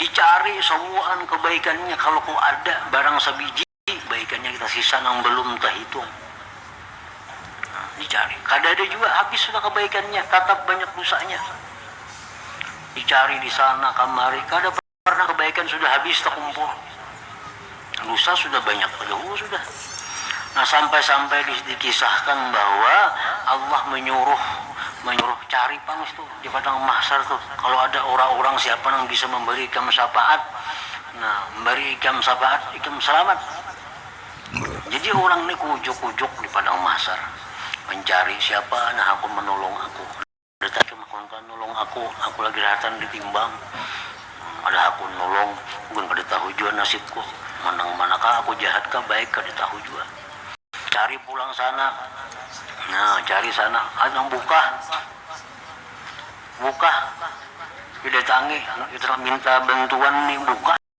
Dicari sabuhan kebaikannya kalo ku ada barang sabiji baikannya kita sisa nang belum tahitung dicari kadada jua habis sudah kebaikannya tatap banyak dosanya dicari disana kamari kada pernah kebaikan sudah habis takumpul. lusa sudah banyak badahulu sudah. Nah sampai-sampai dikisahkan bahwa Allah menyuruh menyuruh cari pang situ di padang mahsar tu kalau ada orang-orang siapa nang bisa memberi ikam syafaat nah memberi ikam syafaat ikam selamat jadi orang ni kujuk-kujuk di padang mahsar mencari siapa nang hakun menolong aku. Ada tatum kawan kawan nulung aku, aku lagi rahatan di timbang, ada hakun nulung, ulun kada tahu jua nasibku, manang manakah aku jahat kah baik kada tahu jua, cari pulang sana, nah cari sana, ada nang bukah, bukah, didatangi minta bantuan ni bukah.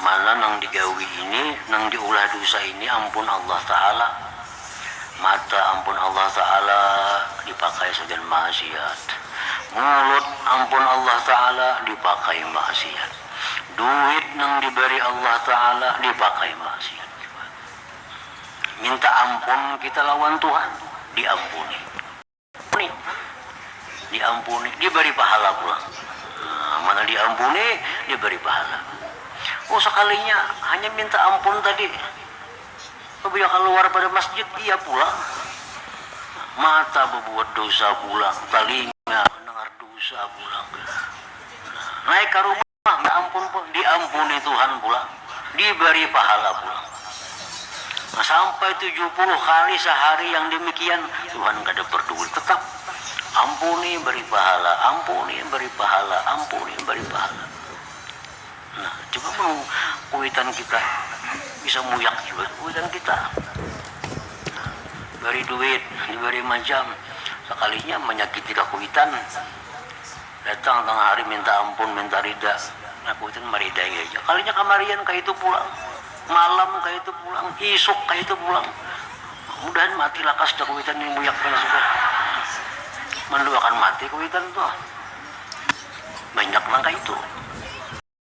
Mana nang digawi ini, nang diulah dusa ini ampun Allah Ta'ala. Mata ampun Allah Ta'ala dipakai sagan maaksiat. Mulut ampun Allah Ta'ala dipakai maaksiat. Duit nang dibari Allah Ta'ala dipakai maaksiat jua. Minta ampun kita lawan Tuhan, diampuni. Ampuni, diampuni, dibari pahala pulang. Nah, mana diampuni, dibari pahala. Oh sakalinya hanya minta ampun tadi, pabila kaluar pada masjid iya pulang. Mata babuat dosa pulang, talinga mandangar dosa pulang. Nah, naik ka rumah. Minta ampun pulang, diampuni Tuhan pulang, diberi pahala pulang. Nah, sampai tujuh puluh kali sehari yang demikian, Tuhan kada perduli, tetap ampuni beri pahala, ampuni beri pahala, ampuni beri pahala. Nah, coba mun kuitan kita bisa muyak jua tu kuitan kita. Nah, beri duit, diberi macam, sekalinya manyakiti kakuitan. Datang tangah hari minta ampun, minta rida. Nya kuitan maridai haja. Kalinya kamarian kaitu pulang, malam kaitu pulang, isuk kaitu pulang. Mudahan mati lakas dah kuitan nih buyak nih sudah. Manduakan mati kuitan tuh. Banyak nang kaitu.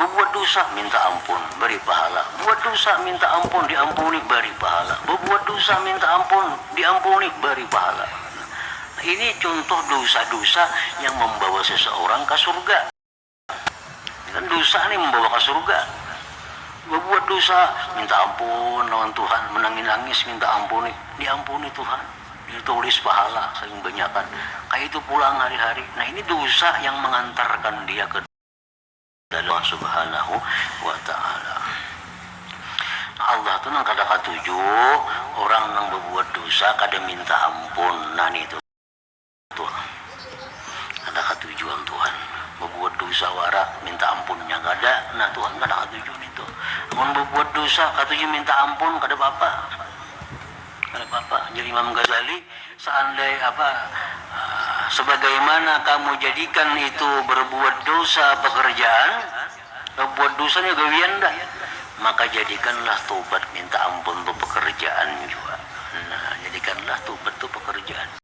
Babuat dusa, minta ampun, bari pahala. Buat dusa, minta ampun, diampuni, bari pahala. Babuat dusa, minta ampun, diampuni, bari pahala. Nah, ini cuntuh dusa-dusa yang mambawa seseorang ka surga. Kan dusa ni mambawa ka surga. Babuat dusa, minta ampun lawan Tuhan, manangis-nangis minta ampuni, diampuni Tuhan. Itu tulis pahala saking banyakan kaya itu pulang hari-hari. Nah ini dosa yang mengantarkan dia ke dalam Allah subhanahu wa ta'ala. Allah tu nang kada katuju orang nang babuat dosa kada minta ampun. Nah nitu. Tur. Kada katuju am Tuhan. Babuat dosa wara, minta ampunnya kada. Nah Tuhan kada katuju nitu. Amun babuat dosa, katuju minta ampun, kada papa. Kada papa. Jar Imam Ghazali, seandai apa, sebagaimana kamu jadikan itu berbuat dosa pekerjaan, babuat dosa nya gawian dah, maka jadikanlah tobat minta ampun tu pekerjaan jua. Nah, jadikanlah tobat tu pekerjaan.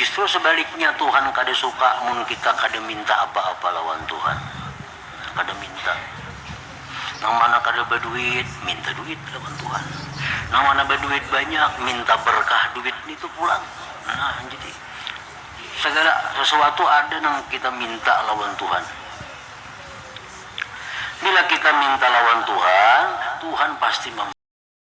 Justru sabaliknya Tuhan kada suka mun kita kada minta apa-apa lawan Tuhan. Kada minta. Nang mana kada baduit, minta duit lawan Tuhan. Nang mana baduit banyak, minta berkah duit nitu pulang. Nah, jadi sagala sasuatu ada nang kita minta lawan Tuhan. Bila kita minta lawan Tuhan, Tuhan pasti mambari.